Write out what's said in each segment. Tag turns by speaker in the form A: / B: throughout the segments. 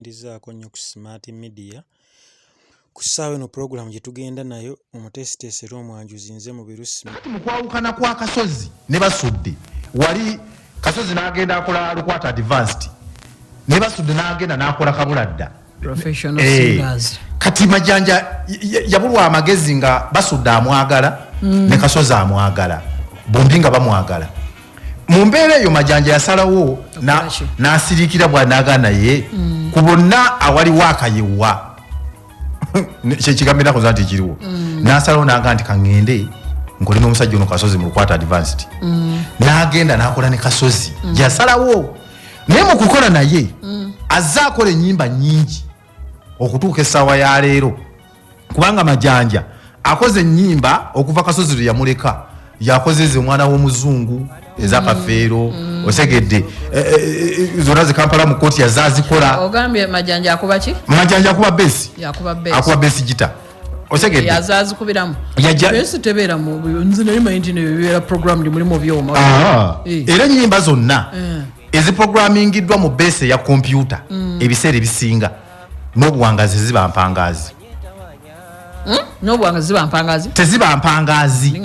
A: ndizzaako nnyo ku smart media ku ssaawa eno pulogulaamu gye tugenda nayo omuteesiteesi era omwanjuzi nze mubiru sima mu kwawukana kwa
B: kasozi ne basudde wali kasozi n'agenda akola lukwata advanced ne basudde n'agenda n'akola kabula dda eh,
C: kati majanja
B: yabulwa amagezi nga basudde amwagala mm. ne kasozi amwagala bombi nga bamwagala mu mbeera eyo majanja yasalawo n'asiriikira bwanaga naye mm. ku bonna awaliwo akayewa kyekigambo enakoza nti ekiriwo mm. n'asalawo naga nti kaŋŋende nkole n'omusajja ono kasozi mu lukwata advanced mm. n'agenda n'akola ne kasozi yasalawo naye mu kukola naye azze akola ennyimba nnyingi okutuuka essaawa ya leero kubanga majanja akoze enyimba okuva kasozi lwe yamuleka yakoze ze omwana w'omuzungu ezakafeero mm. mm. osegedde e, e, e, zona ze kampala mu kooti yazazikola ogambye majanja
C: akuba ki majanja akuba besi
B: akuba besi
C: gita
B: osegedde yazazikubiramu
C: yajesi tebeera mu nzi naye mayinji ne bibeera programmed mulimu byoma ah. eh. era
B: enyimba zonna eh. eziprogramingiddwa mu besi ya kompyuta mm. ebiseera ebisinga mm. n'obuwangazi ziba mpangaazi hmm? n'obuwangazi
C: ziba mpangaazi teziba mpangaazi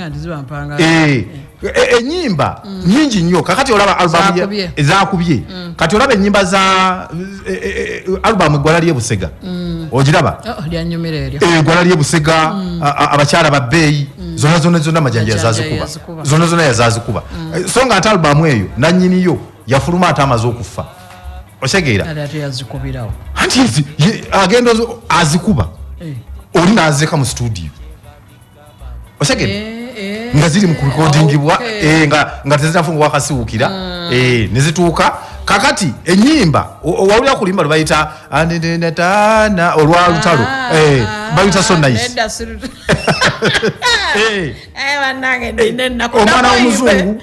B: enyimba eh, eh, eh, hmm. nyingi nnyo kakati olaba albamu ezakubye hmm. kati olaba enyimba za albamu eggwala lyebusega ogiraba
C: eggwala oh, lyebusega
B: abakyala babbeeyi zona zona zona amajanja yazazikuba zona zona yazazikuba so nga ate albamu eyo nanyiniyo yafuluma ate amaze okuffa osegeera anti agenda azikuba eh. oli nazeka mu studio osegeera eh, eh. nga ziri mu kurekodingibwa nga tezinafu nga wakasiwukira ah. nezituuka kakati enyimba wawulira kulimba lwebayita anenenatana olwa lutalo ah, eh, ah, bayita so nice eh. eh, omwana womuzungu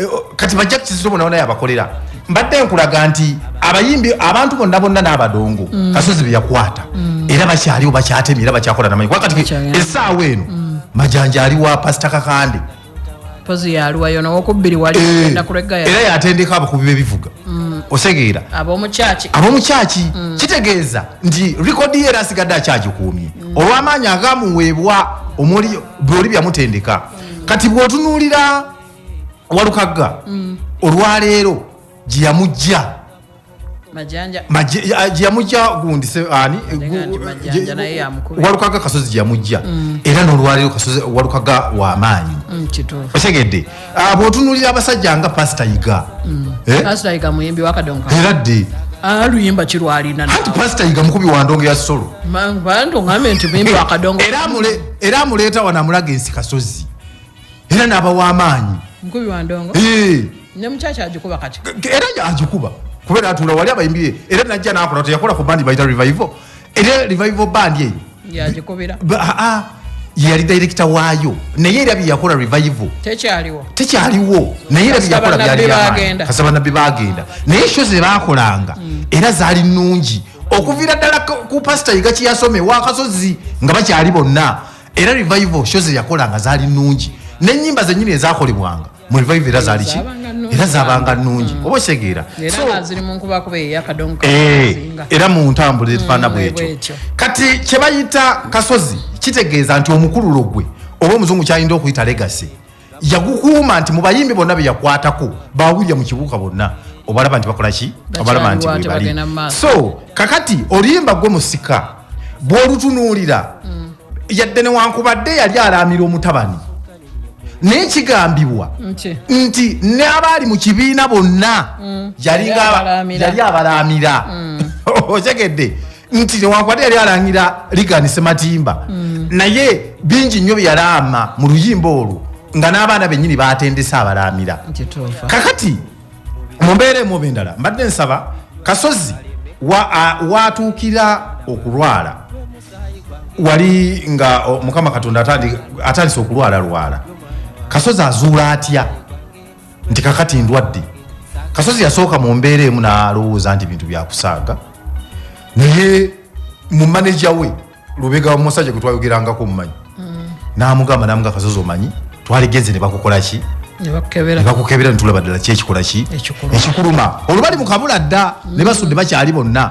B: Eh, oh, kati bajja kukizito bona bona yabakolera mbadde nkulaga nti abayimbi abantu bonna bonna n'abadongo mm. kasozi beyakwata mm. era bakyaliwo bakyatemi era bakyakola namanyi kuba kati esaawa eno mm. majanja aliwa pasita kakande eh,
C: era yatendeka abakubi
B: bebivuga osegeera ab'omukyaki kitegeeza nti rikodi ye era asigadde akyagikuumye olw'amaanyi agamuweebwa omuli byoli byamutendeka kati bw'otunuulira walukagga mm. olwaleero gyeyamujja gyeyamujja gundi ani walukagga kasozi gyeyamujja mm. era nolwaleero kasozi walukagga wamaanyi mm, otegedde ah, bwotunulira abasajja nga pasita yiga eh?
C: era dde
B: aluyimba ah,
C: kirwalina anti pasita yiga mukubi
B: wa ndongo ya solo
C: era
B: amuleeta wano amulaga ensi kasozi era nabawa amaanyi nkubi
C: wandongo eh. ne mukyakya agikuba kati era agikuba
B: kubeera atuula wali abayimbi era najja nakola teyakola ku bandi bayita revival era revival bandi eyo yagikubira
C: ah, ah,
B: yali director waayo naye era byeyakola revival tekyaliwo tekyaliwo naye era byeyakola byaliasa banabbi bagenda naye sho zebakolanga hmm. era zaali nungi okuviira ddala ku pasita yiga kiyasoma ewakasozi nga bakyali bonna era revival show zeyakola nga zaali nnungi nenyimba zenyini ezakolebwanga mu revival era zaali ki era zabanga nnungi mm. oba osegeera eh, era mu ntambula efaana mm, bwekyo kati kyebayita kasozi kitegeeza nti omukululo gwe oba omuzungu kyayinda okuyita legasi yagukuuma nti mu bayimbi bonna be yakwatako ba william kibuuka bonna obalaba nti bakola ki obalaba nti webali so kakati oluyimba gwe musika bw'olutunuulira mm. yadde newankubadde yali alaamira omutabani naye kigambibwa nti n'abaali mu kibiina bonna mm. yali abalaamira mm. otegedde nti newankubadde yali alangira ligani sematimba mm. naye bingi nnyo byeyalaama mu luyimba olwo nga n'abaana bennyini batendese abalaamira kakati mu mbeera emu oba endala mbadde nsaba kasozi watuukira okulwala wali nga mukama katonda atandise okulwala lwala kasozi azuula atya nti kakati ndwadde kasozi yasooka mu mbeera emu nalowooza nti bintu byakusaaga naye mu maneja we lubega wamusajja gwetwayogerangako omumanyi mm. namugamba namuga kasozi omanyi twaligenze nebakukolaki nebakukebera netulaba ddala kyekikola ki ekikuluma olubali mukabula dda mm. nebasudde bakyali bonna